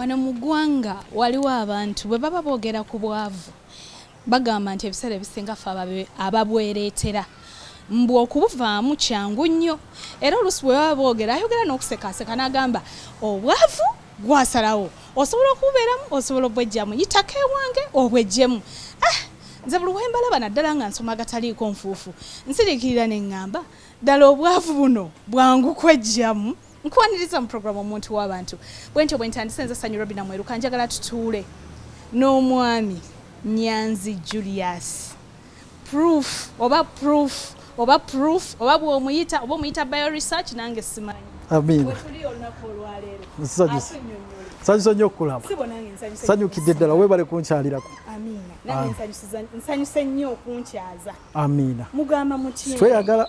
wano mu ggwanga waliwo abantu bwe baba boogera ku bwavu bagamba nti ebiseera ebisinga fe ababwereetera mbu okubuvaamu kyangu nnyo era oluusi bwe baba boogera ayogera n'okusekaaseka n'agamba obwavu Gwasalawo. Osobola okububeeramu, osobola obbwejjamu. Yitako ewange obwejjemu. Ah! Nze buli we mbalaba naddala nga nsoma agataliiko nfuufu, nsiriikirira ne ŋŋamba, ddala obwavu buno bwangu kweggyamu? Nkwaniriza mu programu Omuntu w'Abantu. Bwentyo bwe ntandise nze Sanyu Robina Mweruka. Njagala tutuule n'omwami Nyanzi Julius. Proof oba proof oba proof oba bwomuyita oba omuyita bio research nange simanyi wetuli olunaku olwaleero nsanyusa nnyo okulaba sanyukidde ddala webale kunkyalirako nsanyuse nnyo okunkyaza amiina mugamba mutye tweyagala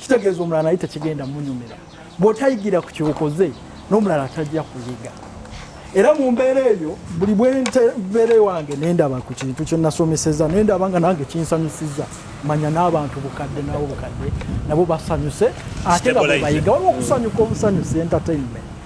kitegeeza omulala naye tekigenda munyumira bwotayigira ku kyokoze n'omulala atajja kuyiga era mu mbeera eyo buli bwembeera ewange nendaba ku kintu kyenasomeseza nendaba nga nange kinsanyusiza manya n'abantu bukadde nabo bukadde nabo basanyuse ate nga bwebayiga waliwo okusanyuka obusanyusi entertainment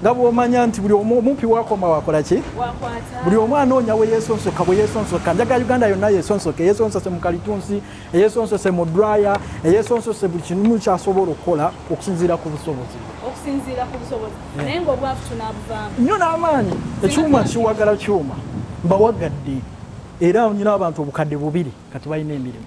nga bwomanya nti buli omumpi wakoma wakola ki buli omu anoonya we yesonsoka bwe yesonsoka njaga uganda yonna yesonsoke eyesonsose mu kalitunsi eyesonsose mu draya eyesonsose buli kimu kyasobola okukola okusinziira ku busobozi nnyo n'amaanyi ekyuma kiwagala kyuma mbawagadde era nyina abantu obukadde bubiri kati balina emirimu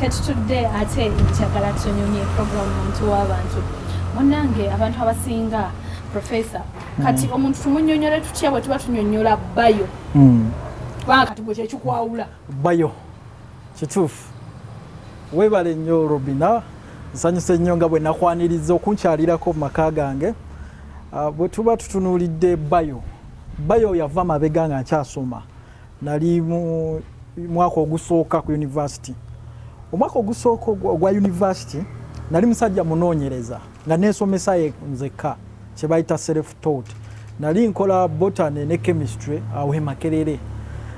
Ketutudde ate njagala tunyumye program muntu w'abantu munange abantu abasinga professor kati mm. omuntu tumunyonyole tutya bwe tuba tunyonyola bayo mm. kubanga kati gwe kyekikwawula bayo kituufu webale nnyo robina nsanyuse nnyo nga bwe nakwaniriza okunkyalirako mu maka gange ah, bwe tuba tutunuulidde bayo bayo yava mabega nga nkyasoma Nali mu mwaka ogusooka ku yunivasiti. Omwaka ogusooka ogwa yunivasiti nali musajja munoonyereza nga neesomesa nzekka kye bayita self taught. Nali nkola botany ne chemistry awo e Makerere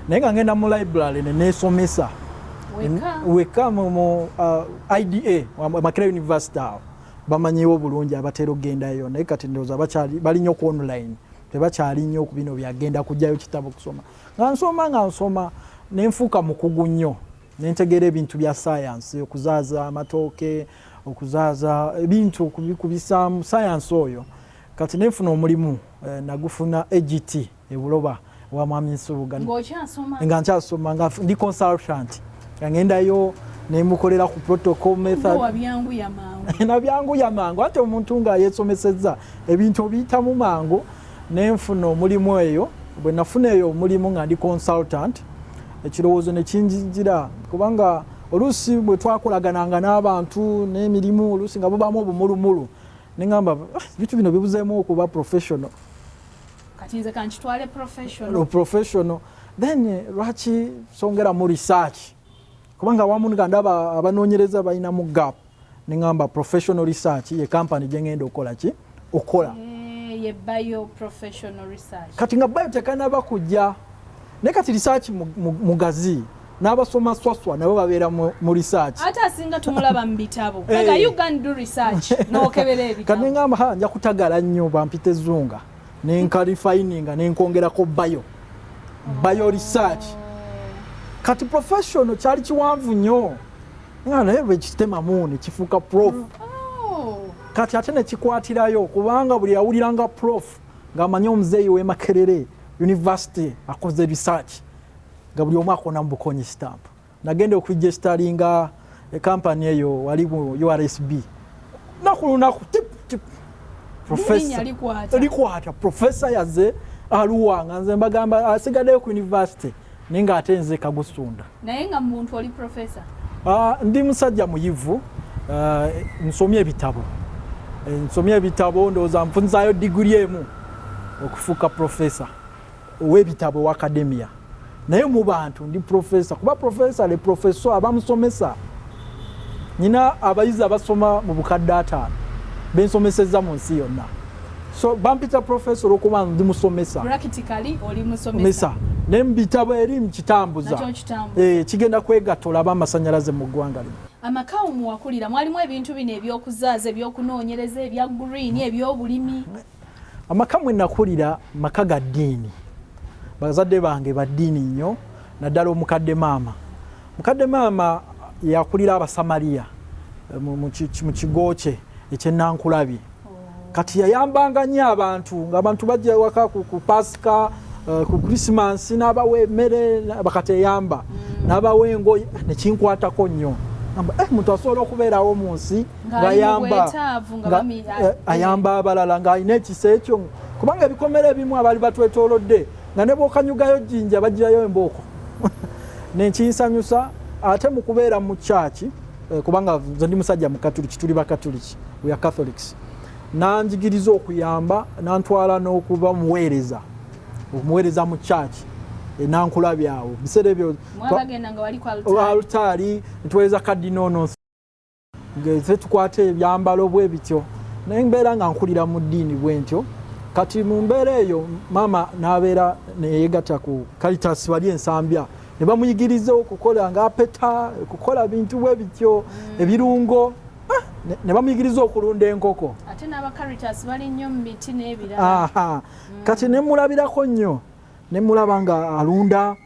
naye nga ngenda mu library ne neesomesa wekka mu uh, IDA Makerere University awo bamanyiwo bulungi abatera okugendayo naye kati ndowooza bakyali bali nnyo ku online tebakyali nnyo ku bino byagenda kujjayo kitabo kusoma nga nsoma nga nsoma nenfuuka mukugu nnyo nentegeera ebintu bya sayansi okuzaaza amatooke okuzaaza ebintu kubisaamu sayansi oyo kati nenfuna omulimu eh, nagufuna agt ebuloba wa mwami nsubuga nga nkyasoma nga ndi consultant angendayo nemukolera ku protocol method nabyanguya mangu ate omuntu nga yesomesezza Ebintu obiyitamu mangu ne nfuna omulimu eyo. Bwe nafuna eyo omulimu nga ndi consultant, ekirowoozo ne kinjijira kubanga oluusi bwe twakolagananga n'abantu n'emirimu oluusi nga bubaamu obumulumulu ne ŋamba ah, ebintu bino bibuzeemu okuba professional kati nze kankitwale professional professional then eh, lwaki songera mu research kubanga awamu nga ndaba abanoonyereza balinamu gap nengamba professional research ye company gyengenda okukola ki okukola eh, kati nga bayo tekanaba kujja naye kati research mugazi n'abasoma swaswa nabo babeera mu research ate asinga tumulaba mu bitabo kati nengamba ha nja kutagala nnyo bampita ezunga nenkalifininga nenkongerako bayo bayo research oh. kati professional kyali kiwanvu nnyo nga naye lwekitema muuni kifuuka prof mm. oh. kati ate nekikwatirayo kubanga buli awulira nga prof ngaamanyi omuzeeyi wemakerere university akoze research nga buli omu akona mubukonyi stamp nagenda okuregisteringa ekampany eh, eyo wali mu ursb naku lunaku tiptip likwata profesa yaze aluwanga nze mbagamba asigadeyo ku university naye nga ate nze kagusunda Naye nga muntu oli professor? Uh, ndi musajja muyivu uh, nsomye ebitabo eh, nsomye ebitabo ndowooza nfunzayo diguli emu okufuuka professor ow'ebitabo owa akademiya naye mu bantu ndi professor kuba professor le professor abamusomesa nyina abayizi abasoma mu bukadde ataano bensomesezza mu nsi yonna so bampita professor olwokuba ndi musomesa practically oli musomesa naye mubitabo eri mukitambuza eh, kigenda kwegatta olaba amasanyalaze mu ggwanga lino amaka omuwakulira mwalimu ebintu bino ebyokuzaaza ebyokunoonyereza ebya green ebyobulimi amaka mwe nakulira maka ga ddiini bazadde bange ba ddiini nnyo naddala omukadde maama mukadde maama yakulira abasamaliya eh, mu kigo kye ekyenankulabi kati yayambanga nnyo abantu ngaabantu bajja ewaka ku pasika eh, ku christmas n'abawa emmere bakateyamba mm. n'abawa engoye nekinkwatako nnyo eh, muntu asobola okubeerawo mu nsi ngayamba eh, ayamba abalala ng'alina ekisa ekyo kubanga ebikomera ebimu abaali batwetolodde nga ne bwokanyugayo jjinja bajjayo embooko nenkinsanyusa ate mu kubeera mu kyaki kubanga nze ndi musajja mukatuliki tuli bakatuliki church we are catholics nanjigiriza okuyamba nantwala n'okuba muweereza okumuweereza mu church e, nankula byawo biseera ebyo alutaali ntuweereza kadinono ze tukwata ebyambalo bwe bityo naye mbeera nga nkulira mu ddiini bwe ntyo kati mu mbeera eyo maama n'abeera neyegatta ku kalitas wali ensambya ne bamuyigiriza okukola ng'apeta okukola bintu bwe bityo mm. ebirungo ah, ne bamuyigiriza okulunda enkoko ate n'aba caritas bali nnyo mu miti n'ebirala mm. kati ne mulabirako nnyo ne mulaba nga alunda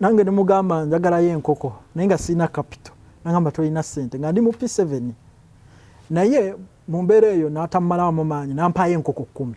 nange ne mugamba njagalayo enkoko naye nga sirina kapito nagamba tolina sente nga ndi mu p seven naye mu mbeera eyo n'atammalawo mu maanyi nampaayo enkoko kkumi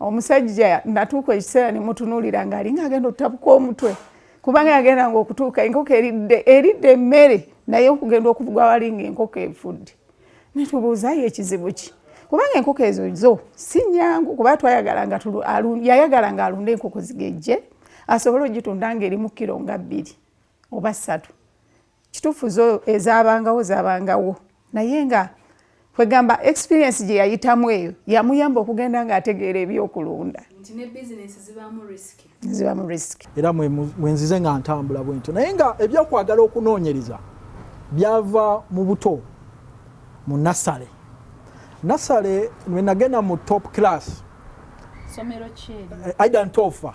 omusajja natuuka ekiseera nemutunuulira ngaalinga agenda otabuka omutwe kubanga yagenda nga okutuuka enkoko eridde eridde emmere naye okugenda okuvugwa walinga enkoko efudde netubuuzayo ekizibu ki kubanga enkoko ezo zo si nyangu kuba twayagalanga yayagalanga alunde enkoko zigejje asobole ogitunda nga erimu kiro nga bbiri oba ssatu kituufu zo ezabangawo zabangawo naye nga kwegamba experience gye yayitamu eyo yamuyamba okugenda ng'ategeera ebyokulunda zibamu risk era mwenzize nga ntambula bwentyo naye nga ebyokwagala okunoonyereza byava mu buto mu nasale nasale wenagenda mu top class eh, aidan tofa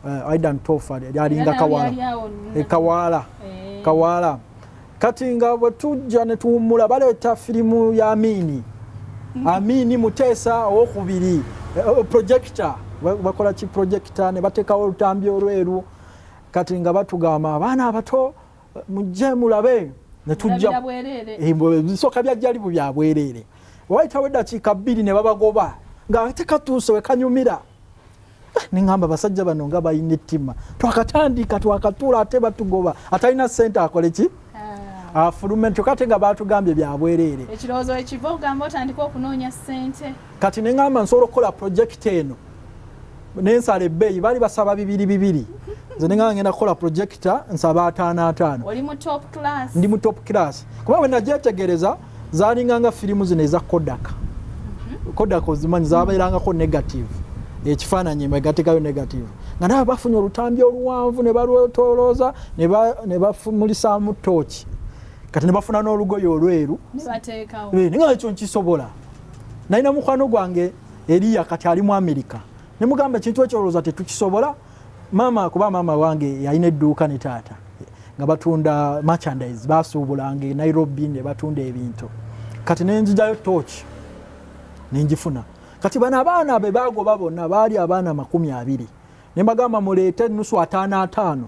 uh, aidan tofa lyalinga kawala e kawala e. kawala kati nga bwe tujja ne tuwummula baleeta firimu ya amiini mm. amiini muteesa owokubiri eh, projector bakola ki projector ne bateekawo olutambi olweru kati nga batugamba abaana abato mujje mulabe netujjaebisooka eh, byajjalibu byabwereere wayitawo eddakiika bbiri ne babagoba nga tekatuuse wekanyumira nengamba basajja bano nga balina ettima twakatandika twakatuula ate batugoba atalina sente akole ki ah. afulume nti kate nga batugambye byabwereere ekirowoozo ekiva ogamba otandika okunoonya sente kati nengamba nsobola okukola projekiti eno nensala ebbeeyi baali basaba bibiri bibiri nze nengamba ngenda kukola projekita nsaba ataano ataano ndi mu top class kuba wenagyetegereza zalinga nga firimu zino eza kodak mhm. kodak ozimanyi zabeerangako negative ekifaananyi egatekayo negative nga nawe bafunye olutambi oluwanvu ne balwetolooza ne bafumulisaamu tooki kati ne bafuna n'olugoye olweru eh, nga ekyo nkisobola nalina mukwano gwange eriya kati ali mu amerika ne mugamba ekintu ekyolooza tetukisobola maama kuba maama wange yalina edduuka ne taata nga batunda merchandise basuubulanga e nairobi ne batunda ebintu kati nenjijayo tooki nenjifuna kati bano abaana be bagoba bonna baali abaana makumi abiri ne mbagamba muleete nusu ataano ataano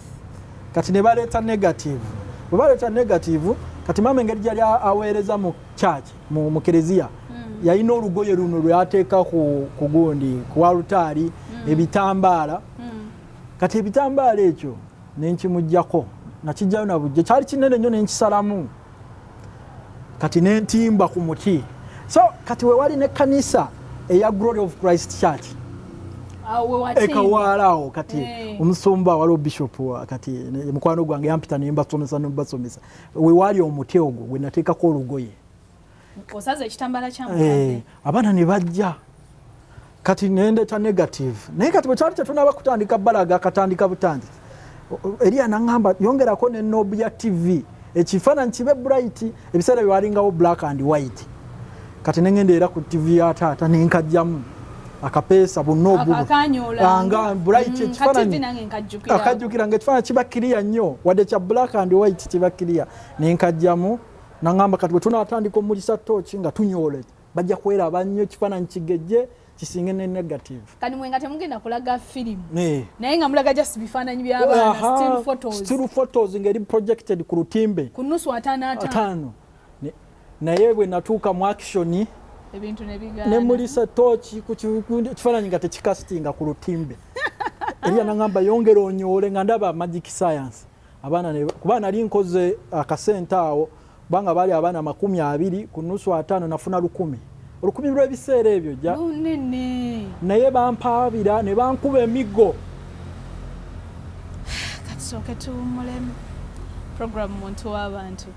kati ne baleeta negative bwe baleeta negative kati maama engeri gyali aweereza mu church mu, mu kereziya mm. yalina olugoye luno lweyateeka ku, ku gundi ku alutaari mm. ebitambaala mm. kati ebitambaala ekyo nenkimugjako nakijjayo nabujja kyali kinene nnyo nenkisalamu kati nentimba ku muti so kati wewali ne kanisa eya glory of christ church ekawaalaawo kati eh. omusumba waliwo bishop kati mukwano gwange yampita nembasomesa nembasomesa wewaali omuti ogwo gwenateekako olugoye osaza ekitambala kya mukadde eh, abaana ne bajja kati nendeta negative naye kati bwekyali tetunaba kutandika balaga akatandika butangi eriya naŋamba yongerako ne nob ya tv ekifaananyi kibe bright ebiseera byewalingawo black and white kati nengenda era ku tv ya taata nenkajjamu akapeesa bunobuanga bright mm, ekifaananyi akajjukira nga ekifaananyi kiba kiriya nnyo wadde kya black and white kiba kiriya nenkajjamu Nangamba kati bwetunatandika omulisa tooki nga tunyoola bajja kweraba nnyo ekifaananyi kigejje kisinge ne negative kati mwe nga temugenda kulaga firimu naye nga mulaga just bifaananyi byabaanastil photos ngeri projected ku lutimbe ku nusu ataano ataano naye bwe natuuka mu akishoni ne mulisa tooki ku kifaananyi nga tekikasitinga ku lutimbe ebyanagamba yongera onyoole nga ndaba magic science abaana ne kuba nali nkoze akasente awo kubanga baali abaana makumi abiri ku nusu ataano nafuna lukumi olukumi lw'ebiseera ebyo ja naye bampaabira ne bankuba emiggo katusooke tuwummulemu program muntu w'abantu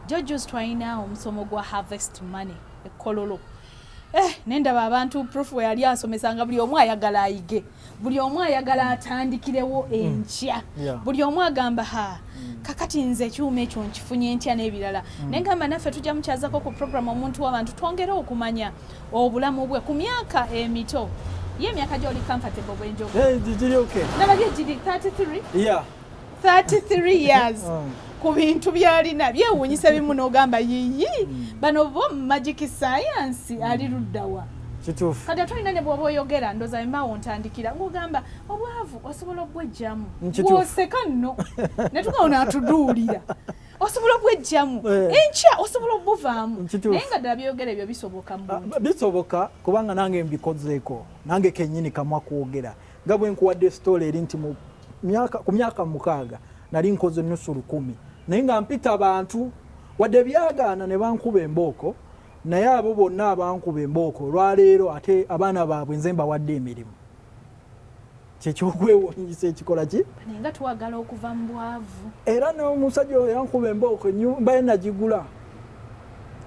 jojus twalina omusomo gwa harvest money ekkololo Eh, nendaba abantu proof weyali asomesa nga buli omu ayagala ayige buli omu ayagala atandikirewo mm. enkya buli omu agamba ha mm. kakati nze ekyuma ekyo nkifunye ntya n'ebirala mm. naye ngamba naffe tujja mukyazako ku programu omuntu wabantu twongere okumanya obulamu bwe ku myaka emito ye emyaka gyoli comfortable bwenjogo eh, nababye giri 33 33 years oh. ku bintu byalina byewuunyisa bimu n'ogamba yiyi hmm. bano bo magic science ali luddawa kituufu kati atulina ne bwoba oyogera ndoza emawo ntandikira ngogamba obwavu osobola okubwejjamu woseka nno netugawo natuduulira osobola okubwejjamu eh. enkya osobola okubuvaamu naye nga ddala byeyogera ebyo bisoboka ah, bisoboka kubanga nange mbikozeeko nange kenyini kamwa kwogera nga bwe nkuwadde sitoola eri nti ku myaka mukaaga nali nkoze nusu lukumi naye nga mpita bantu wadde byagaana ne bankuba embooko naye abo bonna abankuba embooko olwaleero ate abaana baabwe nze mbawadde emirimu kyekyokwewunyisa ekikola ki nga twagala okuva mu bwavu era n'omusajja oyo yankuba embooko mbaye nagigula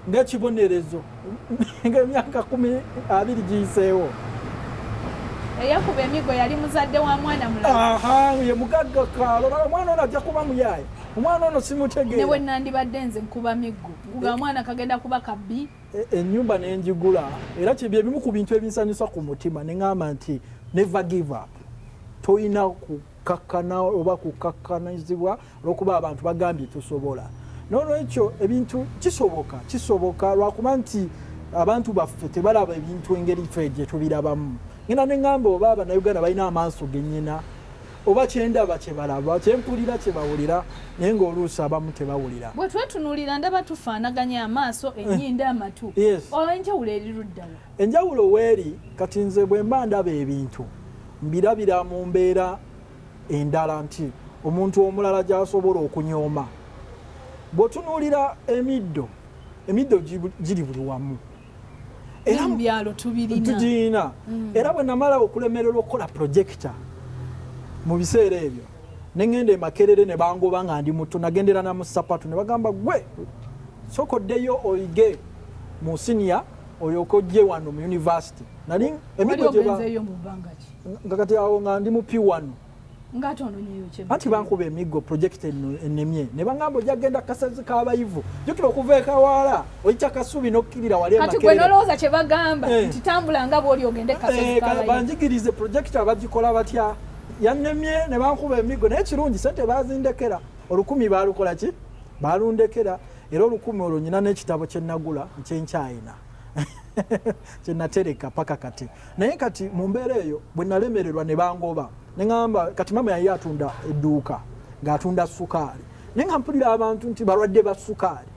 ng'ekibonerezo ng'emyaka kumi abiri giyiseewo eyakuba emigo yali muzadde wa mwana mulaye mugagga kaalo omwana ono ajja kuba muyaye omwana ono simutegeera newe nandibadde nze nkuba miggo kuga eh. mwana kagenda kuba kabbi ennyumba eh, eh, nenjigula era kyebye bimu ku bintu ebinsanyusa ku mutima ne ŋamba nti never give up tolina kakkana oba kukakkanyizibwa olwokuba abantu bagambye tosobola nolwekyo ebintu kisoboka kisoboka lwakuba nti abantu baffe tebalaba ebintu engeri fe gyetubirabamu ngenda neŋamba oba abanauganda balina amaaso genyina oba kyendaba kyebalaba kyempulira kyebawulira naye ngaoluusi abamu tebawulira bwetwetunulira ndaba tufaanaganya amaaso enyinda amatu olwenjawulo eriruddawa Enjawulo weeri kati nze bwe mba ndaba ebintu mbirabira mu mbeera endala nti omuntu omulala gy'asobola okunyooma. Bw'otunuulira emiddo, emiddo giri buli wamu. era mu byalo tugirina mm. era bwe namala okulemererwa okukola projekita mu biseera ebyo ne ŋŋenda emakerere ne bangoba nga ndi muto nagendera na musapatu ne bagamba gwe sokoddeyo oyige mu siniya oyo kojje wano mu university nali emigoeyo mubangaki nga kati awo nga ndi mu p wano anti bankuba emiggo project enemye ne baŋamba ojja kgenda kasazi kabayivu jukira okuva ekawaala oyita kasubi nokkirira waliolowooza kye bagamba eh. nti tambula nga bwoli ogende eh, banjigirize project abagikola batya yanemye ne bankuba emiggo naye kirungi sente bazindekera olukumi balukola ki balundekera era olukumi olwo nyina n'ekitabo kye nagula nkyenkyayina kye natereka paka kati naye kati mu mbeera eyo bwe nalemererwa ne bangoba ne ŋamba kati maama yali atunda edduuka ng'atunda sukaali naye nga mpulira abantu nti balwadde ba sukaali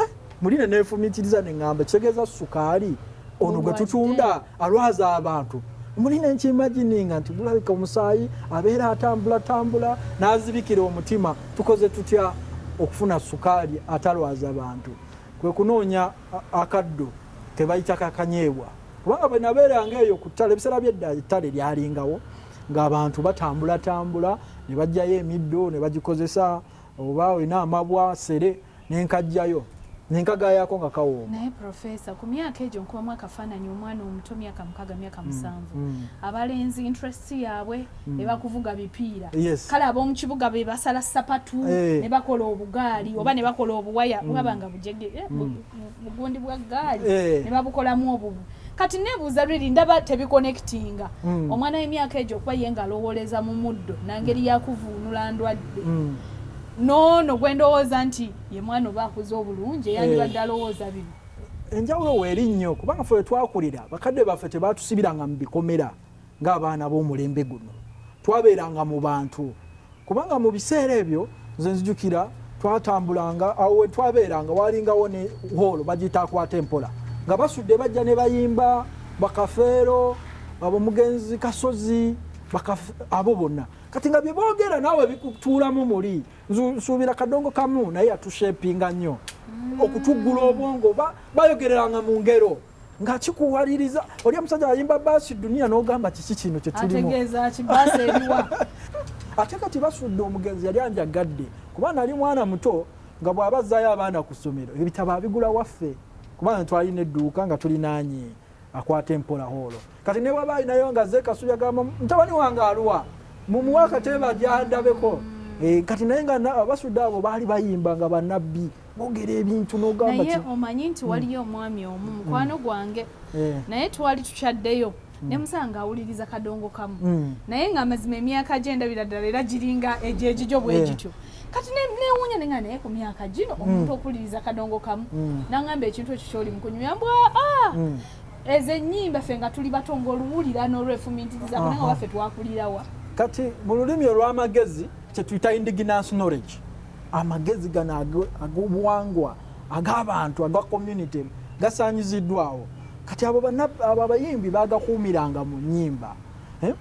eh, muli ne neefumiitiriza ne ŋamba kitegeeza sukaali ono gwe tutunda alwaza abantu muli nenkimagininga nti gulabika omusaayi abeera atambula tambula nazibikira omutima tukoze tutya okufuna sukaali atalwaza bantu kwe kunoonya akaddo kebayita kakanyeebwa kubanga bwe nabeeranga eyo ku ttale ebiseera byedda ettale lyalingawo ng'abantu batambulatambula ne bajjayo emiddo ne bagikozesa oba olina amabwa sere ne nkajjayo ne nkagaayaako nga kawooma. Naye Profesa, ku myaka egyo nkubamu akafaananyi omwana omuto myaka mukaaga myaka mm, musanvu mm. abalenzi interest yaabwe mm. ne bakuvuga bipiira kale ab'omu kibuga be basala sapatu eh. ne bakola obugaali oba ne bakola obuwaya bwaba nga bujege eh, bugundi bwa gaali eh. ne babukolamu obubu kati nebuuza riri ndaba tebikonectinga omwana w'emyaka egyo okuba ye nga alowooleza mu muddo nangeri yakuvuunula ndwadde noono gwe ndowooza nti ye mwana oba akuze obulungi eyandibadde eh. alowooza bino enjawulo weeri nnyo kubanga fe wetwakulira bakadde baffe tebatusibiranga mu bikomera ng'abaana b'omulembe guno twabeeranga mu bantu kubanga mu biseera ebyo nze nzijukira twatambulanga awo wetwabeeranga walingawo ne hoolo bagiyita akwata empola nga basudde bajja ne bayimba bakafeero abo mugenzi kasozi abo bonna kati nga byebogera nawe bikutuulamu muli nsuubira kadongo kamu naye yatushepinga nnyo mm. okutuggula obwongo oba bayogereranga mu ngero nga kikuwaliriza oli omusajja ayimba baasi duniya n'ogamba kiki kino kyetulimu ate kati basudde omugenzi yali anjagadde kuba nali mwana muto nga bw'aba azzaayo abaana ku ssomero ebitabo abigula waffe kubanga twalina edduuka nga tulinaanye akwata empola holo kati newaba alinayo nga zekasuya gamba mutabani wange aluwa mumuwe akateeba gyandabeko eh, kati naye nga abasuda abo baali bayimba nga banabbi bogera ebintu nogamba naye omanyi nti waliyo hmm. omwami omu hmm. mukwano gwange eh. naye twali tukyaddeyo hmm. nemusanga awuliriza kadongo kamu naye nga amazima emyaka gyendabira ddala era giringa egyegijo bwegityo eh. kati newunya nenga naye ku myaka gino mm. omuntu okuliriza kadongo kamu mm. nangamba ekintu ekyo kyoli mukunyumya mbwa ah! mm. ezo enyimba ffe nga tuli bato ngaoluwulira nolwefumintiriza kunanga waffe twakulirawa kati mu lulimi olw'amagezi kyetuyita indigenance knowledge amagezi gano ag'obuwangwa ag'abantu aga community gasanyiziddwawo kati abo abayimbi bagakuumiranga mu nyimba eh?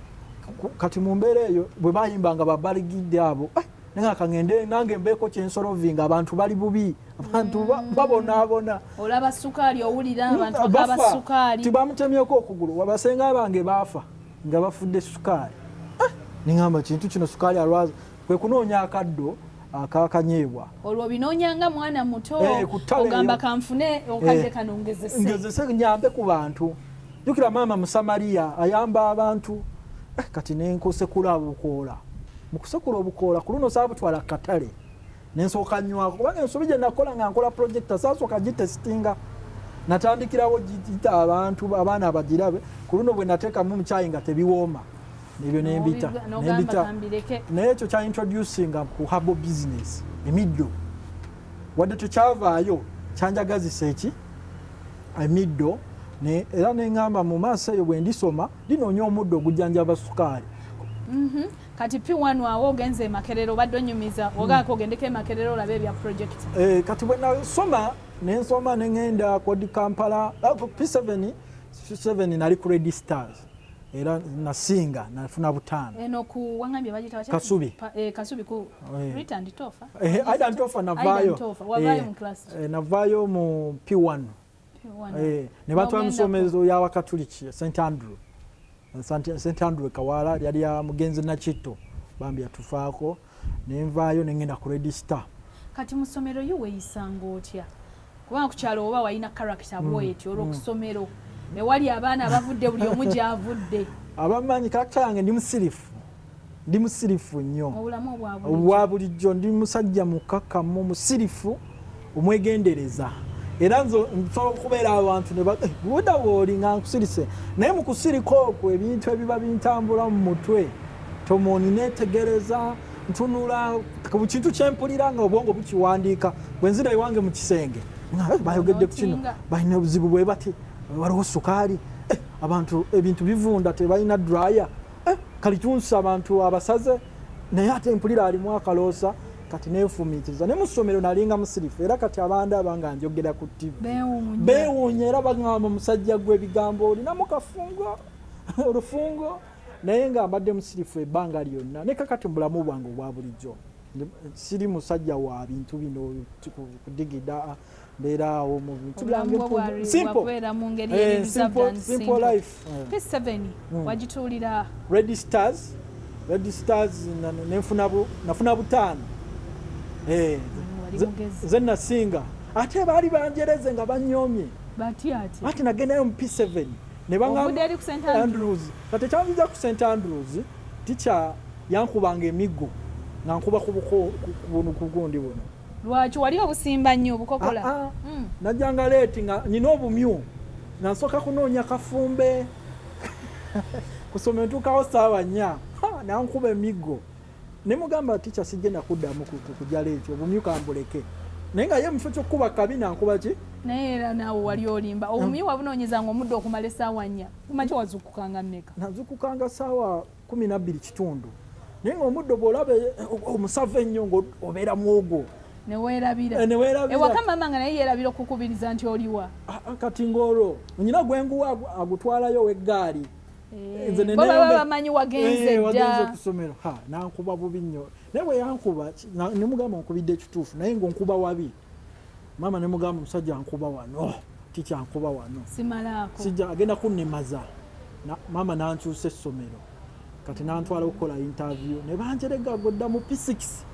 kati mu mbeera eyo bwe bayimba nga babaligidde abo eh, naye nga kangende nange mbeeko kyensolovinga abantu bali bubi abantu mm. babonaabona olaba sukaali owulira mm, abantu bakaba sukaali tibamutemyeko okugulu wabasenga abange baafa nga bafudde sukaali eh, ningamba kintu kino sukaali alwaza kwe kunoonya akaddo akakanyeebwa olwo binoonyanga mwana muto eh, ogamba kanfune eh, okadde kano ngezese nyambe ku bantu jukira maama musamaliya ayamba abantu eh, kati nenkusekula obukoola mukusekula obukoola ku luno saabutwala katale nensooka nywako kubanga ensobi gye nakola nga nkola projekita saasooka gitesitinga natandikirawo gita abantu abaana abagirabe ku luno bwe nateekamu omukyayi nga tebiwooma nebyo nembita nembita naye ekyo kya introducinga ku habo business emiddo wadde tekyavaayo kyanjagazisa eki emiddo era neŋamba mu maaso eyo bwe ndisoma linoonya omuddo ogujjanjaba sukaali mhm. kati p1 awo ogenze emakerero obadde onyumiza hmm. ogaako ogendeko emakerero olabe ebya project eh, kati bwe nasoma nensoma neŋenda kodi kampala ah, p7 nali ku redi stars era nasinga nafuna butaano eno ku wangambye bagita wacha kasubi pa, eh, kasubi ku eh. Rita and Tofa eh, eh Aida and Tofa navayo eh, eh, navayo mu P1 P1 eh, ne batwa musomezo ya wakatuliki St Andrew St Andrew kawala yali ya mugenzi na chito bambi atufaako nenvaayo nengenda ku register. Kati musomero yo weyisanga otya kubanga kukyalo oba walina character mm. bwetyo olwo mm. kusomero ewali abaana abavudde buli omu gyavudde abamanyi character yange ndi musirifu ndi musirifu nnyo obwa bulijjo ndi musajja mukakamu musirifu omwegendereza era nze nsobola okubeera abantu nebuda eh, wooli nga nkusirise naye mu kusirika okwo ebintu ebiba bintambula mu mutwe tomoni netegereza ntunula ku kintu kyempulira nga obwongo bukiwandiika bwe nzira ewange mu kisenge eh, bayogedde ku kino balina obuzibu bwe bati waliwo sukaali eh, abantu ebintu bivunda tebalina draya kalitunsi abantu abasaze Naye ate mpulira alimu akaloosa kati nenfumiitiriza ne mu ssomero nalinga musirifu era kati abandaba nga njogera ku ttivi beewuunya era bagamba musajja gwe ebigambo olinamu kafungo olufungo naye nga mbadde musirifu ebbanga lyonna ne kakati mu bulamu bwange obwa bulijjo siri musajja wa bintu bino kudigida mbeera awo mu bintu byange simple life p7 wagituulira red stars red stars nafuna butaano eh, nze nasinga ate baali banjereze nga banyomye ati nagendayo mu p7 nebaandrews kati ekyanziza ku st andrews tikya yankubanga emiggo nga nkuba kubuko kubuno kugundi buno lwaki wali obusimba nnyo obukokola ah, ah. mm. najanga leeti nga nina obumyu nansooka kunoonya kafumbe kusoma entuukawo saawa nnya nankuba emiggo ne mugamba ticha sigenda kuddamu kujala ekyo obumyu kambuleke naye nga ye mufo kyokukuba kabi nankuba ki naye era naawe wali olimba obumyu wabunoonyezanga omudde okumala esaawa nnya kumaki wazukukanga mmeka nazukukanga saawa kumi nabbiri kitundu naye nga omuddo bwolaba eh, eh, omusava ennyo ngaobeera mwogwo newerabiraewakamaama eh, nga naye yerabira okukubiriza nti oliwa ah, ah, kati ngaolwo nyina gwenguwa agutwalayo oweggaali bamanyi wagenze okusomero nankuba bubi nnyo naye bweyankuba nemugamba nkubidde ekituufu naye ngaonkuba wabi maama ne mugamba omusajja nkuba wano ticha nkuba wano sijja agenda kunnimaza maama nankyusa essomero kati nantwala okukola interview ne banjerega godda mu physics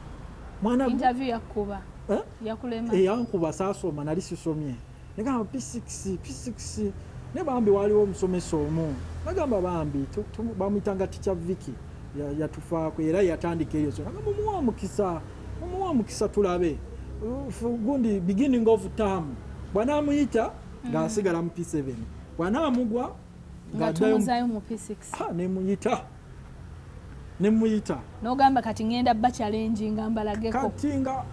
mwana interview yakuba eh? yakulema eyankuba eh, saasoma nali sisomye negamba p6 p6 naye bambi waliwo omusomesa omu nagamba bambi bamuyitanga tikya viki yatufaako era yatandika eyo so nagamba omuwa omukisa omuwa omukisa tulabe gundi beginning of term bwanamuyita ng'asigala mu p7 bwanamugwa ngatumuzaayo mu p6 ah, nemuyita nemuyita nogamba kati ngenda bacalengi nga mbalageko kati nga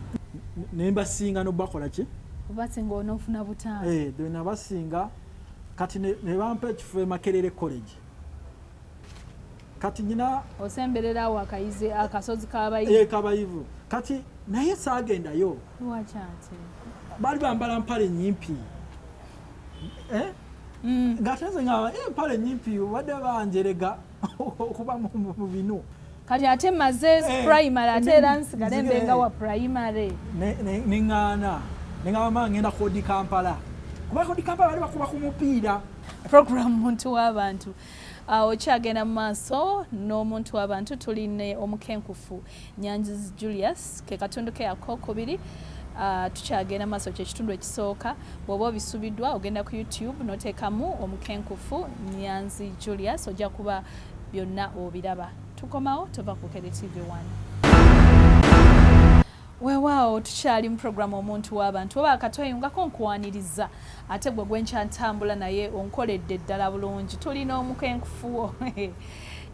nembasinga nobakola ki obasinga onofuna butaano eh, nabasinga kati nebampa ekifo emakerere college kati nyina osemberera awo akayize akasozi kabayivu eh, kabayivu kati naye saagendayo bali bambala mpale nyimpi eh? mm. ngate nze nga eh, empale nyimpi obadde banjerega okuba mu binu kati ate maze eh, primary ate era nsigale mbenga wa primary neŋŋaana neŋaba maa ngenda kodi kampala kuba kodi kampala bali bakuba ku mupiira programu muntu w'abantu Awo kyagenda mu maaso n'omuntu w'abantu tuli ne omukenkufu Nyanzi Julius ke katundu ke akokubiri uh, tukyagenda maaso kyekitundu ekisooka bwoba obisubiddwa ogenda ku youtube notekamu omukenkufu Nyanzi Julius ojja kuba byonna obiraba tukomawo tova ku Kere TV 1 wewaawo tukyali mu programu omuntu w'abantu oba akatweyungako nkuwaniriza Ate gwe gwenkya ntambula naye onkoledde ddala bulungi tuli n'omukenkufuwo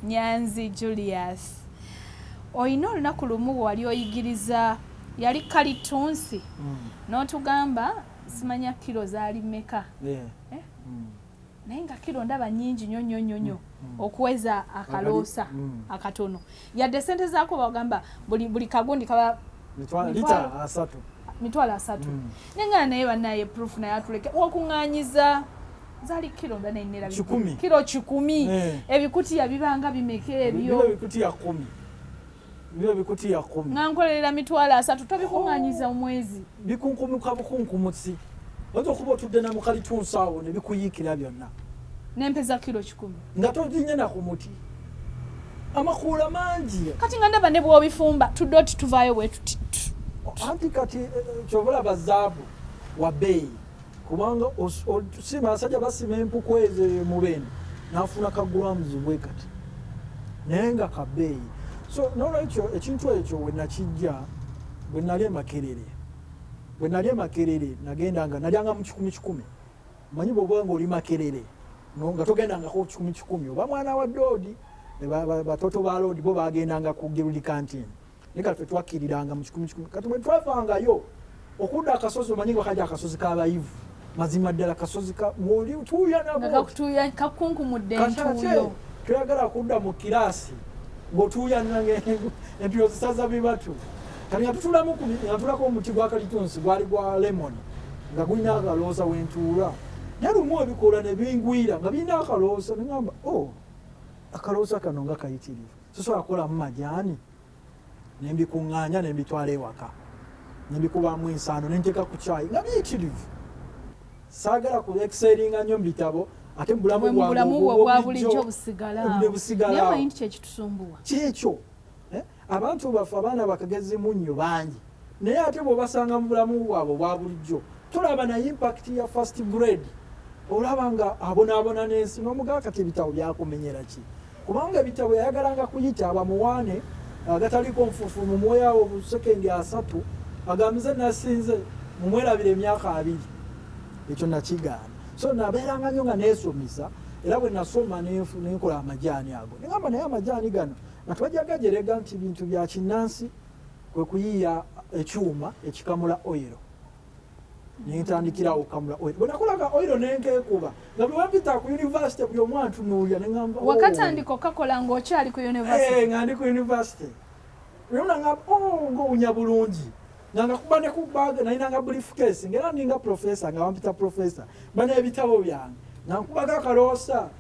Nyanzi Julius. Olina olunaku lumu wali oyigiriza yali kalittunsi mm. n'otugamba simanya kiro zaali meka yeah. eh? mm. naye nga kiro ndaba nyingi nyo nyo nyo nyo mm, mm. okuweza akaloosa mm. akatono yadde sente zaako bagamba buli, buli kagundi kaba mitwalo asatu mm. naye nga naye banaye proof naye atuleke wakuŋanyiza zali kiro nda nenera kiro kikumi eh. ebikutiya bibanga bimeka ebyo bino bikutiya kumi nga nkolerera mitwalo asatu tobikunganyiza omwezi bikunkumuka bukunkumusi oyinza okuba otudde na mukalitunsi awo ne bikuyiikira byonna nempeza kiro kikumi nga toginye na ku muti amakuula mangi kati nga ndaba ne bwobifumba tudde oti tuvaayo bwetuti anti kati eh, eh, kyobalaba zaabu wa beeyi kubanga osimba abasajja basima empuku ezo mubeni nafuna ka grams bwe kati naye nga kabeeyi so nolwekyo ekintu ekyo wenakijja bwe nali emakerere bwe nali emakerere nagenda nga nalyanga mu kikumi kikumi manyi bwoba nga oli makerere nga togendangako kikumi kikumi oba mwana wa doodi batoto ba loodi bo bagendanga ku girudi kantini naye kati fetwakkiriranga mu kikumi kikumi kati bwe twavangayo okudda akasozi omanyi nga kaja akasozi k'abayivu mazima ddala kasozi oli tuuya nabokakunkumuddentuyo toyagala kudda mu kiraasi ng'otuuya entuyo zisaza bibatu kati nga tutulamu natulako omuti gwa kalitunsi gwali gwa lemoni nga gulina akaloosa wentuula naye lumu ebikoola ne bingwira nga birina akaloosa nengamba o oh, akaloosa kano nga kayitirivu sisobola kukolamu majaani ne mbikuŋŋaanya ne mbitwala ewaka ne mbikubaamu ensaano ne nteeka ku caayi nga biyitirivu saagala ku ekiseeringa nnyo mu bitabo ate mu bulamu bwabwebulijjo busigalawo kyekyo eh? abantu baffe abaana bakagezi munnyo bangi Naye ate bwobasanga mu bulamu bwabwe obwa bulijjo tolaba na impact ya first grade olaba nga abonaabona n'ensi n'omugaa kati ebitabo byakumenyera ki kubanga ebitabo yayagalanga kuyita abamuwaane agataliko nfufu mu mwoyo awo bu sekendi asatu agambize nasinze mumwerabira emyaka abiri ekyo nakigaana so nabeeranga nyo nga neesomesa era bwe nasoma nenkola amajaani ago nengamba naye amajaani gano nga twajagajerega nti bintu bya kinnansi kwe kuyiiya ekyuma ekikamula oyiro ne ntandikirawo okukamula oyiro bwe nakolaga oyiro ne nkeekuba nga bwe bampita ku yunivasite buli omu antunuulira ne ŋamba oh. wakatandika okakola ng'okyali ku yunivasite eh, nga ndi ku yunivasite buli omu naŋamba o oh, ng'owunya bulungi nga ngakuba ne ku bag nalinanga briefcase ng'era ninga profesa nga bampita profesa bana ebitabo byange nga nkubaga akaloosa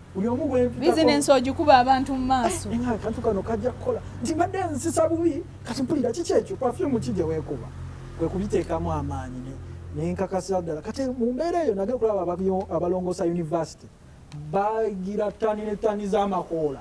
bizinensi ogikuba abantu mu maaso eh, akantu kano kajja kukola nti mbadde nzisisa bubi kati mpulira kiki ekyo pafyumu ki gye weekuba kwe kubiteekamu amaanyi nenkakasira ddala kati mu mbeera eyo nage kulaba abalongoosa yunivasite bagira ttani ne ttani z'amakoola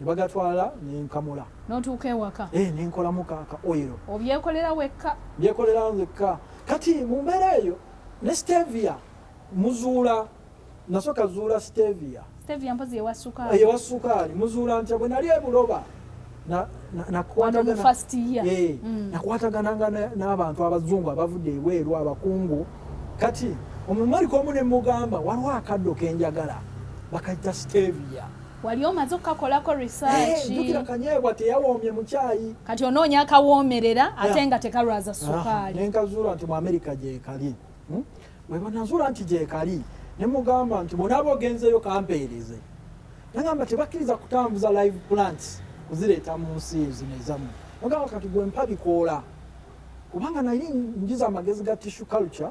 ne bagatwala ne nkamula n'otuuka ewaka eh, ne nkolamu ka ka oyiro obyekolera wekka byekolera nzekka kati mu mbeera eyo ne stevia muzuula nasooka zuula stevia stevia mpozi ewa sukaali ewa sukaali muzuula ntya bwe nali ebuloba nakwatagananga eh, mm. n'abantu abazungu abavudde ebweru abakungu kati omumali komu ne mugamba waliwo akaddo kenjagala bakayita stevia wali omaze okukakolako risaakijukira eh, kanyeebwa teyawoomye mukyayi kati onoonya akawoomerera ate nga tekalwaza ah, sukaali nenkazuula nti mu amerika gyekali hmm? webanazuula nti gyekali ne mugamba nti bonaaba ogenzeeyo kampeereze nagamba tebakkiriza kutambuza live plants kuzireeta mu nsi zino ezamu ogamba kati gwe mpa bikoola kubanga naye njiza amagezi ga tissue culture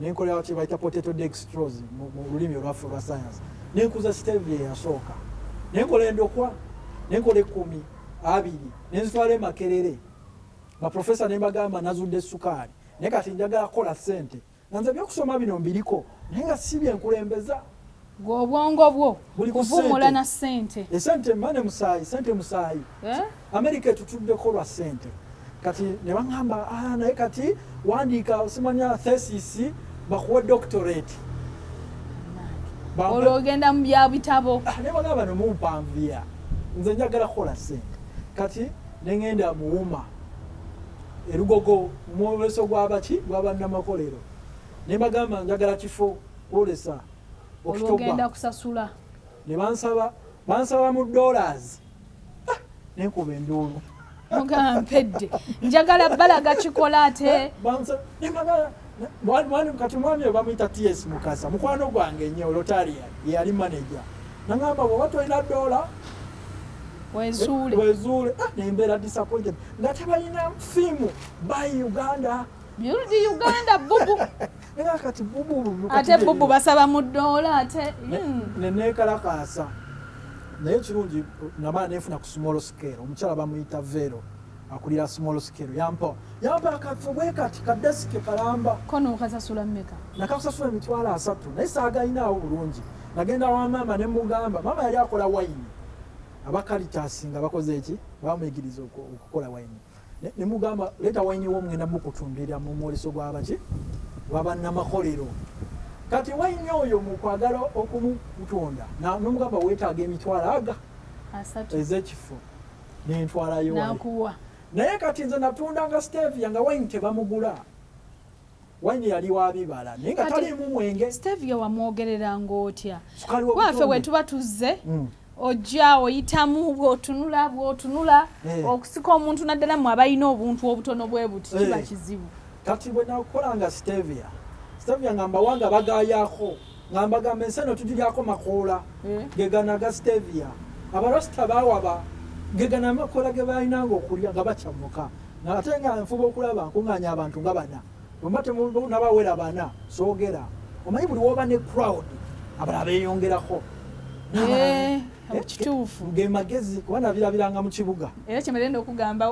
ne nkola kye bayita potato dextrose mu lulimi olwaffe olwa sayansi ne nkuza stevia eyasooka ne nkola endokwa ne nkola ekkumi abiri ne nzitwala emakerere baprofesa ne mbagamba nazudde essukaali naye kati njagala kukola ssente nga nze byokusoma bino mbiriko naye nga si byenkulembeza gwe obwongo bwo kuvumula na sente esente mane musayi sente musayi eh? amerika etutuddeko lwa sente kati ne baŋamba ah, naye kati wandiika osimanya thesis bakuwe doctorate olwo ogenda mu bya bitabo ah, naye bagamba bano mumpanviya nze njagala kukola sente kati neŋenda muwuma erugogo mwoleso gwabaki gwabannamakolero ne bagamba njagala kifo kwolesa okitogenda kusasula ne bansaba bansaba mu dollars ah, nenkuba enduulu mugamba mpedde njagala balaga kikola ate kati mwami oyo bamuyita ts mukasa mukwano gwange nyo lotaria yeyali manaja nagamba bwoba tolina dola wezuule ah, nembeera disappointed nga tebalina fiimu by uganda build uganda bubu era kati bubu ate bubu basaba mu ddoola ate neneekalakaasa hmm. naye kirungi namala nefuna ku small scale omukyala bamuyita vero akulira small scale yampa yampa akafo bwe kati kadesike kalamba kono okasasula mmeka nakasasula emitwalo asatu naye saagalinaawo bulungi nagenda wa maama ne mugamba maama yali akola wayini abakalitasi nga bakoze eki bamuyigiriza okukola wayini ne mugamba leeta wayini wo mugenda mukutumbira mu mwoleso gwabaki gwabannamakolero kati wayini oyo mukwagala okumutunda nomugamba weetaaga emitwalo aga ezekifo nentwalayo naye kati nze natundanga stevia nga wayini tebamugula wine yali wa bibala naye nga taliimu mwenge stevia wamwogerera ng'otya waffe we tuba tuzze mm. ojja oyitamu bwotunula bwotunula eh. okusika omuntu naddala mu abalina obuntu obutono bwe buti eh. kiba kizibu kati bwe nakukola nga stevia stevia nga mbawanga bagayako nga mbagamba ensi eno tugiryako makoola mm. gegana ga stevia abarasita bawaba gegana amakoola ge balinanga okulya nga bakyamuka ate nga nfuba okulaba nkunganya abantu nga bana bwemba temunabawera bana soogera omanyi buli woba ne crowd abalala beyongerako eh. Eh, kituufu gemagezi kuba nabirabiranga mu kibuga era kyemerenda okugamba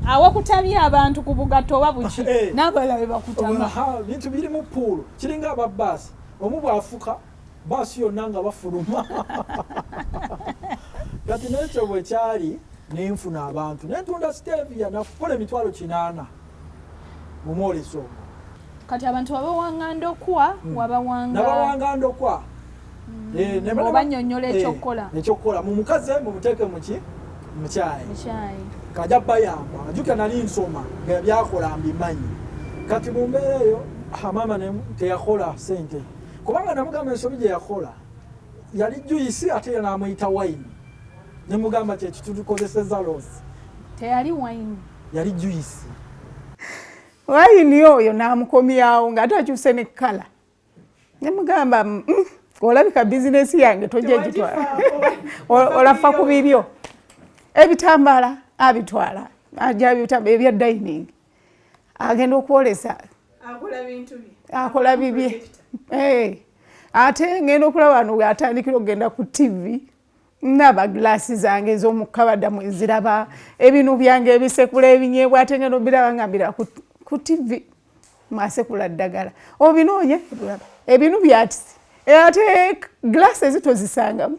awakutabya abantu ku bugatto oba buki eh. n'abalala be bakutama bintu biri mu puulu kiringa aba baasi omu bwafuka baasi yonna nga bafuluma kati nekyo bwekyali nenfuna abantu nentunda stevia nakukola emitwalo kinaana mu mwoleso ogwo. Kati abantu wabawanga ndokwa mm. wabawanga nabawanga ndokwa mm. eh, obanyonyola eh, ekyokukola ekyokukola mumukaze mumuteeke muki mukyayi kaja bayamba ajuka nali nsoma nga byakola mbimanyi kati mu mbeera eyo hamama teyakola sente kubanga namugamba ensobi gye yakola yali juyisi ate namuyita wayini Ne mugamba kye kitutukozeseza loss. Teyali wine. Yali juice. Wine oyo namukomyawo nga atakyuse ne kala. Ne mugamba mm, mm, olabika business yange tojja gitwala. Olafa ku bibyo. Ebitambala abitwala. Ajabyo ebya dining. agenda okwolesa akola bibye eh. ate ngenda okulaba no atandikira okugenda ku tivi naba gilasi zange ezomukabada mweziraba ebinu byange ebisekula ebinyebwa ate ngenda obiraba nga mbira ku tivi mwasekula ddagala obinonye ebinu byatisi ate gilasi ezitozisangamu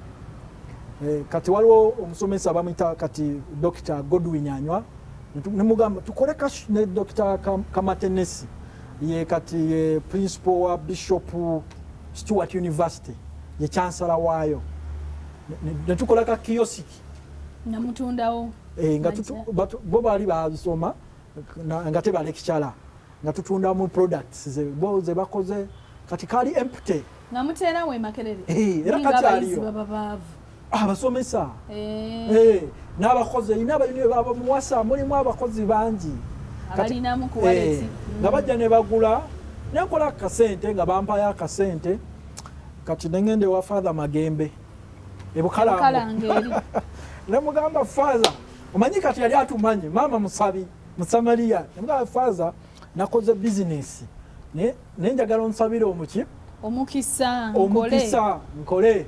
eh, kati waliwo omusomesa bamuyita kati dokita godwin anywa nemugamba tukole ne dokita kamatenesi ye kati ye principal wa bishop stewart university ye chansala waayo netukola ka kiyosiki namutundawo eh, nga bo baali bazisoma nga tebalekicala nga tutunda mu products ze bo ze bakoze kati kali empty nga mutera we makerere eh era kati aliyo abasomesa ah, eh eh nabakoze ina abayuni baba muwasa muli mu abakozi bangi kati na mu kuwaleti eh, nga bajja ne bagula ne kola kasente nga bampa ya kasente kati nengende wa father magembe ebukala kalange ne mugamba father omanyi kati yali atumanyi maama musabi musamaliya nga faza nakoze bizinesi naye njagala onsabire omuki omukisa omukisa nkole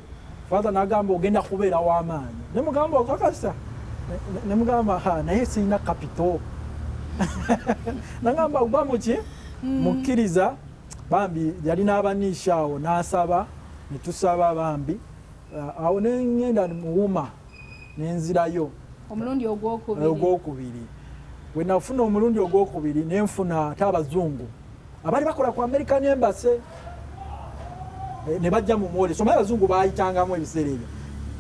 faza nagamba ogenda kubeera wamaanyi nemugamba okakasa nemugamba ha naye sirina kapito nagamba gwa muki mm. mukkiriza bambi yali n'abaniisha awo n'asaba ne tusaba bambi uh, awo ne ŋŋenda muwuma ne nzirayo omulundi ogwokubiri we nafuna omulundi ogwokubiri ne nfuna ate abazungu abaali bakola ku american embassy eh, ne bajja mu mwoleso omaye abazungu bayitangamu ebiseera ebyo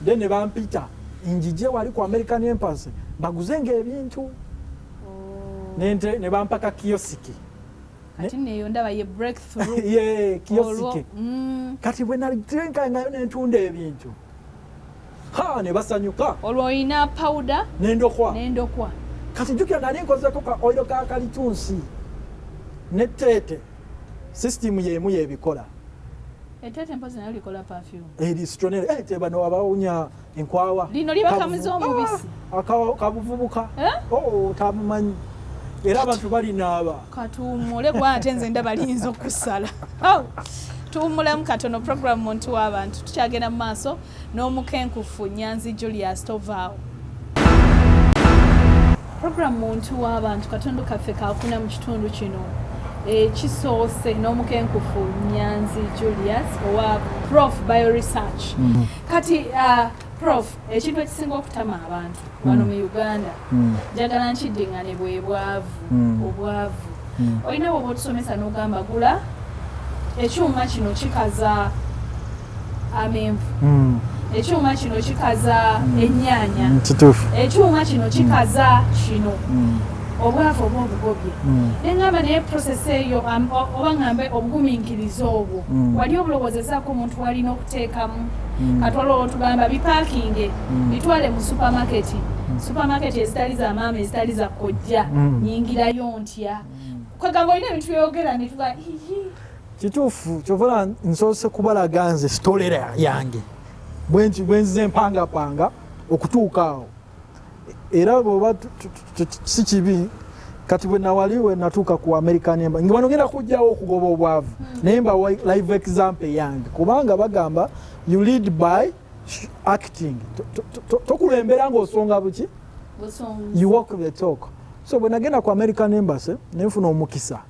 then ne bampita njije wali ku american embassy baguze nga ebintu oh. ne bampaka kiyosiki kati neyo ndaba ye breakthrough ye kiyosike mm. kati bwe nali trenkangayo nentunda ebintu haa nebasanyuka olwo oyina pawuda nendokwa nendokwa kati jukira nali nkozeko ka oiro ka kalitunsi ne teete sisitimu yemu yebikola etete mpozi nayo likola perfume eri stronel eh teba no abawunya enkwawa lino liba kamuzo ah, omubisi akawa kabuvubuka eh? oh tamumanyi era abantu bali naaba katuwumule kuba ate nze ndaba liyinza okusala tuwumulemu katono program muntu w'abantu tukyagenda mu maaso n'omukenkufu nyanzi julius tovaawo program muntu w'abantu katundu kaffe kakuna mu kitundu kino ekisoose n'omukenkufu nyanzi julius owa prof bio research mm-hmm. kati uh, Prof, ekintu ekisinga okutama abantu mm. wano mu Uganda mm. njagala nkiddingane bwe bwavu mm. obwavu olina bwoba otusomesa n'ogamba gula ekyuma kino kikaza amenvu ekyuma kino kikaza ennyaanya ekyuma kino kikaza kino obwavu oba obugobye nengamba naye process eyo oba ngambe obuguminkiriza obwo wali obulowoozezako omuntu walina teekamu hmm. katwala olwotugamba bipakinge hmm. bitwale mu supamaketi hmm. supamaketi ezitali za maama ezitali za kojja nyingirayo ntya kwegamba olina ebintu byeyogera netuga kituufu kyovola nsoose kubalaga nze sitolera yange bwenzize empangapanga okutuuka awo era bwoba si kibi kati bwenawali wenatuuka ku america nemba nga banogenda kujjawo okugoba obwavu hmm. naye mba live example yange kubanga bagamba you lead by acting tokulembera ngaosonga buki you walk the talk so bwenagenda ku american embassy nenfuna omukisa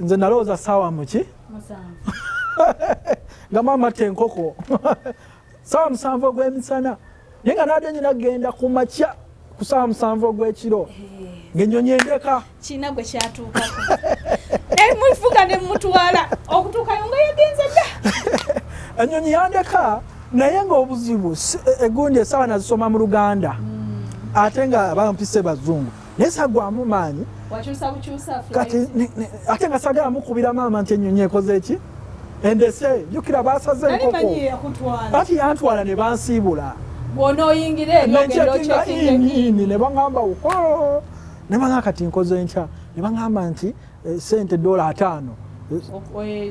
nze nalowooza saawa muki nga maama te enkoko saawa musanvu ogw'emisana naye nga naadde nyina genda ku makya ku saawa musanvu ogw'ekiro ng'ennyonyi endeka kirina gwe kyatuukako naye mufuga ne mutwala okutuukayo nga yagenze dda ennyonyi yandeka naye ng'obuzibu e, e, egundi esaawa nazisoma mu luganda mm. ate nga bampise bazungu naye sagwamu maanyi kati ate nga sagala mukubira maama nti enyonyi ekoze eki endese jukira basaze enkoko ati yantwala ne bansiibula bwonoyingireeini ne bagamba uko ne bagamba kati nkoze nkya ne bagamba nti eh, sente dola ataano eh,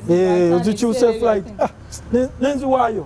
eh, ozikyuse flight ah, nenziwaayo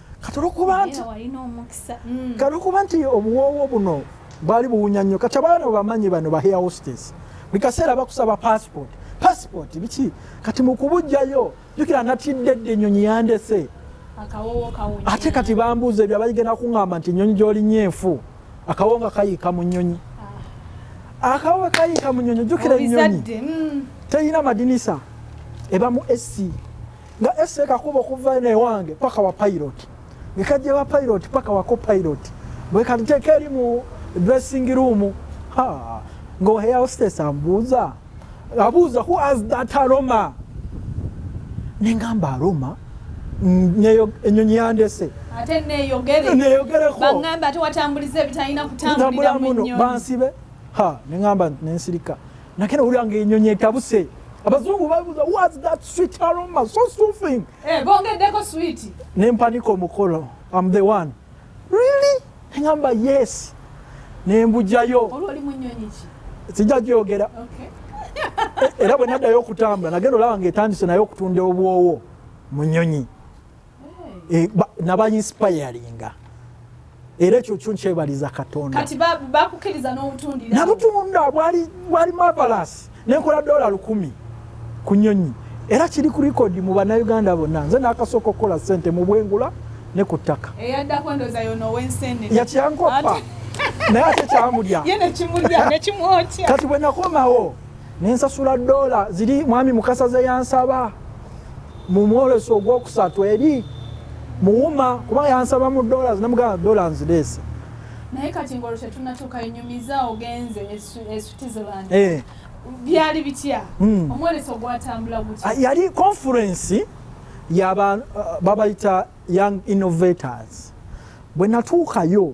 kati olwokuba nti mm. kati olwokuba nti obuwoowo buno bwali buwunya nnyo kati abaana bamanyi bano ba hair hostess buli kaseera bakusaba passport passport biki kati mukubujjayo jukira natidde dde ennyonyi yandese ate kati bambuuza ebyo abaigenda kuŋamba nti ennyonyi gyolinya enfu akawo nga kayiika mu nnyonyi ah. akawo kayiika mu nnyonyi jukira ennyonyi mm. terina madinisa eba mu esi nga ese kakuba okuva eno ewange paka wa pilot ngekajja wa pilot paka wako pilot bwekanteeka eri mu dressing room ngaoheyaostes ambuuza abuuza who as that aroma nengamba aroma enyonyi yandese neyogerekobansibe nengamba nensirika nakena owulira nga enyonyi etabuse abazungu babuza was that sweet aroma so soothing eh, bongeddeko sweet nempanika omukolo am the one really engamba yes nembujayo sijja gyogera era bwe naddayo okutambula nagenda olaba nga etandise naye okutunda obwowo mu nyonyi eh, naba inspiringa era ekyo kyo nkyebaliza katonda nabutunda bwali mavalasi nenkola dola lukumi ku nyonyi era kiri ku likodi mu banauganda bonna nze nakasooka okukola sente mu bwengula ne ku ttaka yakyankoppa naye ate kyamulya kati bwe nakomawo nensasula dola ziri mwami mukasa zeyansaba Mu mwoleso ogw'okusatu eri muwuma kuba yansaba mu dollars namugamba dollars nzireese. Naye kati ng'olwo tetunnatuuka enyumiza ogenze e Switzerland. Eh. Byali bitya? Hmm. Omwoleso gwatambula gutya? Ah, yali conference yaba uh, babayita young innovators. Bwe natuukayo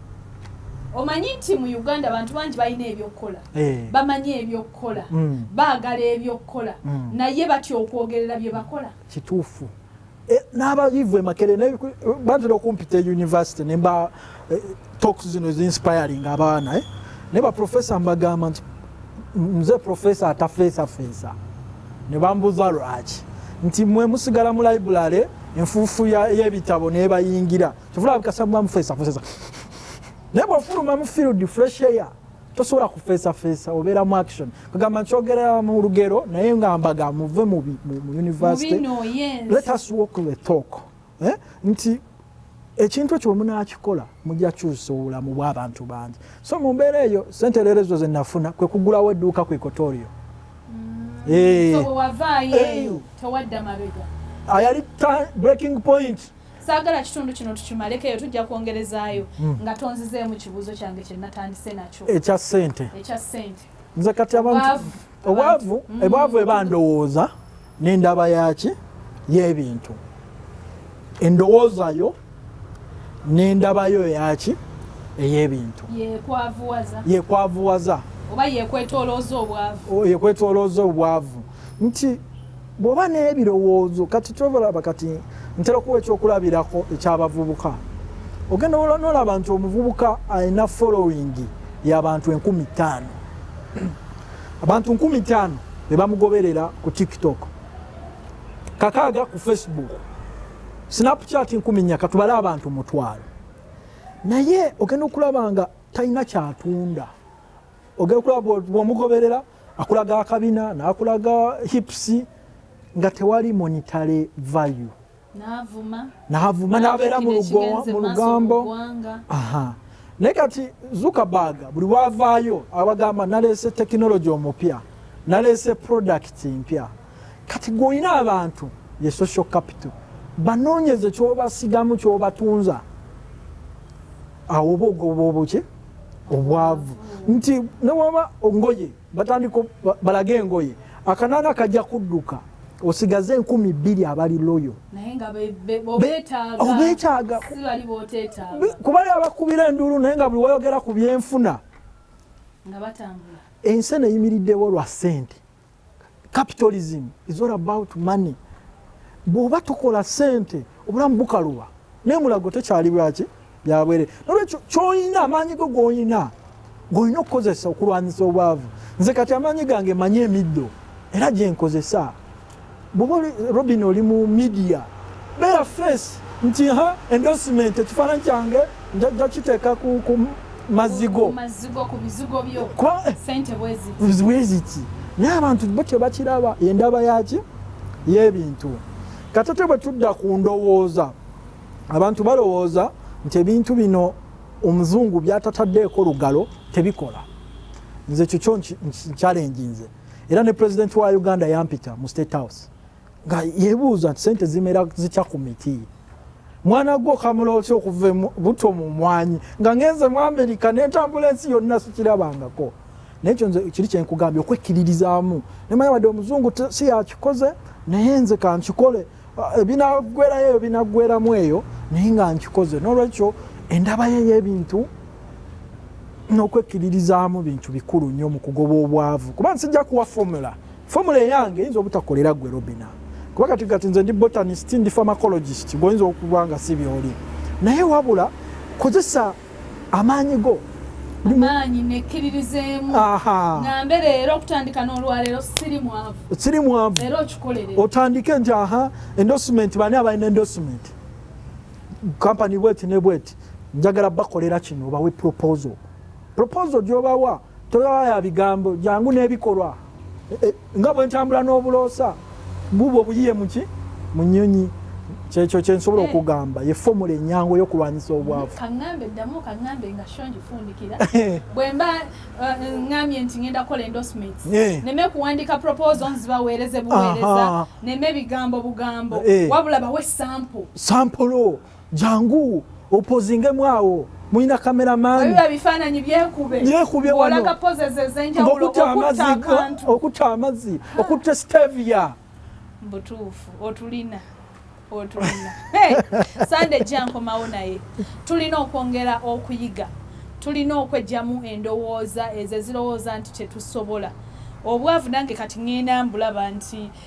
omanyi nti mu uganda abantu bangi balina ebyokukola eh. bamanyi ebyokukola mm. baagala ebyokukola mm. naye batya okwogerera bye bakola kituufu eh, n'abayivu emakere bantera okumpita euniversity nemba eh, talks zino ezinspiring abaana eh? naye baprofesa mbagamba nti nze profesa atafeesafeesa ne bambuza lwaki nti mwe musigala mu library enfuufu y'ebitabo nebayingira kivula bikasa mwa mfesa fesa nebo furu mwa mfiru di fresh air tosobola kufesa fesa obera mu action kagamba nkyogera mu lugero naye nga mbaga muve mu mu university no, yes. let us walk the talk eh nti ekintu ekyo munakikola mujja kyusa obulamu bw'abantu bangi so mu mbeera eyo sente leero ezo zenafuna kwe kugulawo edduuka ku ekotorio mm. eh. ayali breaking point saagala kitundu kino tukimaleko eyo tujja kwongerezaayo hmm. nga tonzizeemu kibuuzo kyange kye natandise nakyo ekya ssente ekya ssente nze kati abantu obwavu hmm. ebwavu eba ndowooza n'endaba yaki y'ebintu endowooza yo n'endaba yo yaki ey'ebintu yekwavuwaza oba yekwetolooza obwavu yekwetolooza obwavu nti bw'oba n'ebirowoozo kati kyobalaba kati ntera okuwa ekyokulabirako ekyabavubuka ogenda ola nolaba nti omuvubuka alina following yabantu enkumi ttaano abantu nkumi ttaano bebamugoberera ku tiktok kakaaga ku facebook snapchat nkumi nya katubale abantu mutwalo naye ogenda okulaba nga talina kyatunda ogenda okulaba bwomugoberera bo, akulaga akabina nakulaga hips nga tewali monitary value navuma nabeera mu lugambo naye kati zuckerberg buli wavaayo abagamba naleese tekinologi omupya naleese product mpya kati gweolina abantu ye social capital banoonyeze kyobasigamu kyobatunza awo oba ogoba obuki obwavu nti newaba ngoye batandika balage engoye akanana kajja kudduka osigaze enkumi bbiri abali loyo obetaaga kuba abakubira enduulu naye nga buli wayogera ku byenfuna ensi eno eyimiriddewo lwa ssente capitalism is all about money bwoba tokola sente obulamu bukaluba naye mulago tekyali bwaki byabwere nolwekyo kyoyina amaanyi go goyina golina okukozesa okulwanyisa obwavu nze kati amaanyi gange manyi emiddo era gyenkozesa Bwoba Robin oli mu media beera face nti ha endorsement ekifaananyi kyange njajja kiteeka ku mazzi go bweziki naye abantu bo tebakiraba endaba yaki yebintu katate bwe tudda ku ndowooza abantu balowooza nti ebintu bino omuzungu byatataddeeko lugalo tebikola nze ekyo kyo nkyalenjinze era ne president wa uganda yampita mu state house nga yebuuza nti sente zimera zitya ku miti mwana gwo kamula otya okuva buto mu mwanyi nga ngenze mu amerika nentambula ensi yonna sikirabangako naye ekyo nze kiri kyenkugambye okwekkiririzaamu nemanya wadde omuzungu si yakikoze naye nze kankikole ebinaggwerayo eyo binaggweramu eyo naye nga nkikoze n'olwekyo endabayo ey'ebintu n'okwekkiririzaamu bintu bikulu nnyo mu kugoba obwavu kuba nsijja kuwa fomula fomula eyange eyinza obutakolera gwe robina kuba kati kati nze ndi botanist ndi pharmacologist gwoyinza okuba nga si byoli naye wabula kozesa amaanyi go amaanyi nekkiririzeemu ngambe leero okutandika n'olwaleero siri mwavu siri mwavu era okikolere otandike nti aha endorsement bani abalina endorsement kampani bweti ne bweti njagala bakolera kino obawe proposal proposal gyobawa Tolaba ya bigambo jangu n'ebikolwa e, e, nga bwe ntambula n'obuloosa bubwo buyiye muki mu nnyonyi kyekyo kye nsobola eh. okugamba ye fomula enyangu ey'okulwanyisa obwavu kaŋŋambe ddamu kaŋŋambe nga sho ngifundikira eh. bwe mba eh, ŋŋambye nti ŋenda kukola endorsements neme kuwandiika proposal nzibaweereze buweereza neme bigambo bugambo wabula bawe sample sampolo jangu opozingemu awo mulina kamera maniokuta amazi okuta amazi okuta stevia mbutuufu otulina otulina sande jankomawo naye tulina okwongera okuyiga tulina okwejjamu endowooza ezo ezirowooza nti tetusobola obwavu nange kati ŋenda mbulaba nti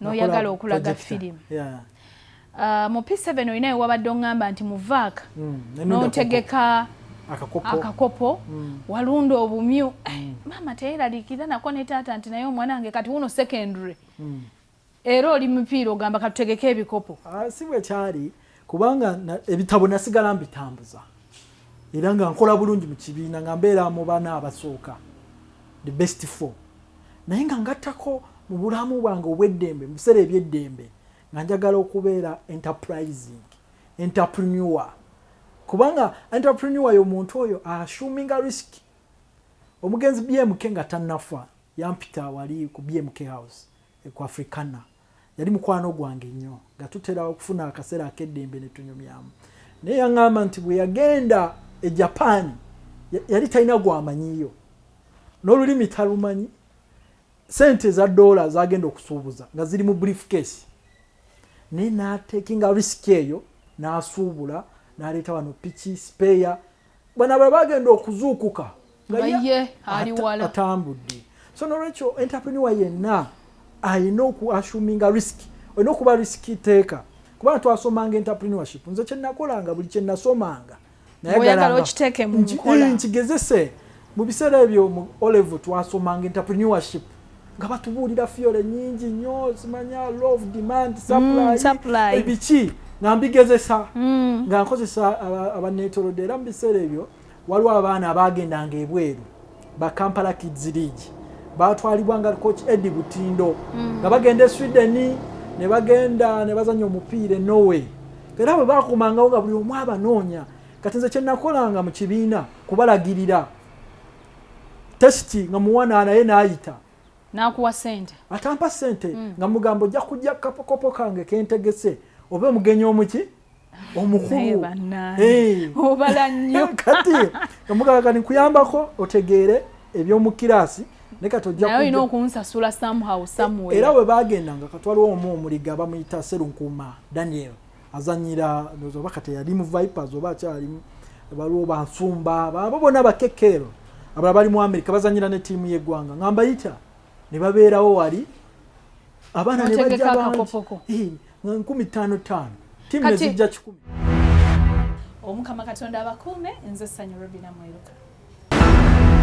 noyagala okulaga firimu uh, mu p7 olinayo wabadde oŋŋamba nti muvaaka mm, notegeka akakopo mm. walunda obumyu eh, mm. maama teyeralikira nako ne taata nti naye omwana wange kati wuno secondary era oli mupiira ogamba katutegeke ebikopo ah, si bwekyali kubanga ebitabo nasigala mbitambuza era nga nkola bulungi mu kibiina nga mbeera mu bana abasooka the best four naye nga ngattako mu bulamu bwange obweddembe mu biseera ebyeddembe nga njagala okubeera enterprising entrepreneur kubanga entrepreneur yo muntu oyo ashuminga risk omugenzi bmk nga tanafa yampita wali ku bmk house eh, ku africana yali mukwano gwange nnyo nga tutera okufuna akaseera ak'eddembe ne tunyumyamu naye yaŋŋamba nti bwe yagenda e japaani yali talina gwamanyiyo n'olulimi talumanyi sente eza doola zagenda okusuubuza nga ziri mu brief case naye natekinga risiki eyo n'asuubula n'aleeta wano piki sipeeya bana bwe bagenda okuzuukuka nga ye atambudde so nolwekyo entrepreneur yenna alina okuassuminga risk olina okuba risk teeka kubanga twasomanga entrepreneurship nze kyenakolanga buli kyenasomanga nayegalangakigezese mu biseera ebyo mu olevo twasomanga entrepreneurship nga batubuulira fiyole nyingi nnyo zimanya love demand mm, supply ebiki nga mbigezesa mm. nga nkozesa abaneetolodde era mu biseera ebyo waliwo abaana abaagendanga ebweru ba kampala kids league batwalibwa nga coach edi butindo mm. nga bagenda e sweden ne bagenda ne bazanya omupiira e norway era abo bakumangawo nga buli omu abanoonya kati nze kyenakolanga mu kibiina kubalagirira testi nga muwana naye nayita nakuwa sente atampa sente mm. nga mugambo ojja kujja kapokopo kange kentegese oba omugenyi omuki omukulu obala nnyo kati omugalaga nikuyambako otegeere ebyomukiraasi nekatolina okunsasula somehow somewhere era webagendanga katwaliwo omu omuliga bamuyita serunkuuma daniel azanyira ndoza oba kati yali mu vipers oba akyalimu waliwo bansumba babo bona bakekero abala bali mu amerika bazanyira ne tiimu yegwanga nga mbayita ne babeerawo wali abaana ne bajja bangi nkumi ttaano ttaano tiimu ne zijja kikumi omukama katonda abakuume nze sanyu robina mweruka